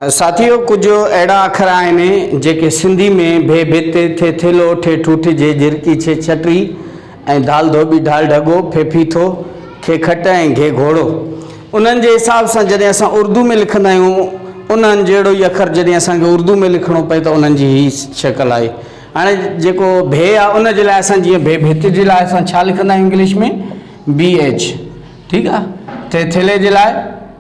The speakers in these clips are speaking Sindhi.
ساٿيو! ڪجهه اهڙا اکر آهن جيڪي سنڌي ۾ ڀي ڀت، ٿي ٿيلهو، ٺي ٺوٺ، جي جهرڪي ڇي ڇٽري ۽ ڌال ڌوٻي ڍال ڍڳو، ڦي ڦيٿو، کي کٽ ۽ گهي گهوڙو. انهن جي حساب سان جڏهن اسان اردو ۾ لکندا آهيون انهن جهڙو ئي اکر جڏهن اسان کي اردو ۾ لکڻو پئي ته انهن جي هي شڪل آهي. هاڻي جيڪو ڀي آهي ان جي لاء اسان جيئن ڀي ڀت جي لاء اسان ڇا لکندا آهيون انگلش ۾ BH ٺيڪ آهي ٿي ٿيلهي جي لاء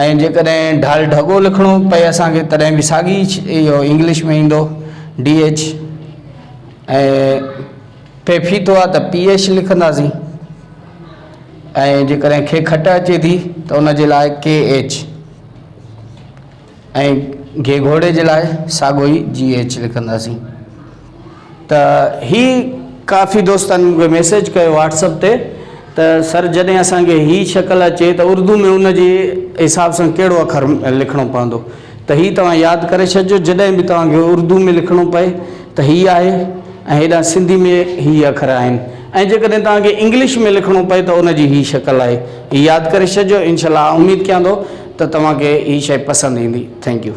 ۽ جيڪڏهن ڍال ڍڳو لکڻو پئي اسان کي تڏهن به ساڳي اهو انگلش ۾ ايندو ڊي ايڇ ۽ پي ڦيٿو آ ته پي ايڇ لکنداسين ۽ جيڪڏهن کي کٽ اچي ٿي ته ان جي لاء ڪي ايڇ ۽ گهي گهوڙي جي لاء ساڳو ئي جي ايڇ لکنداسين ته هي ڪافي دوستن مونکي ميسيج ڪيو واٽسپ تي ته سر جڏهن اسان کي هي شڪل اچي ته اردو ۾ ان جي حساب سان ڪهڙو اکر لکڻو پوندو ته هي توهان ياد ڪري ڇڏجو جڏهن به توهان کي اردو ۾ لکڻو پئي ته هي آهي ۽ هيڏانهن سنڌي ۾ هي اکر آهن ۽ جيڪڏهن توهان کي انگلش ۾ لکڻو پئي ته ان جي هي شڪل آهي هي ياد ڪري ڇڏجو انشاء الله آء اميد ڪيان ٿو ته توهان کي هي شئي پسند ايندي ٿينڪ يو.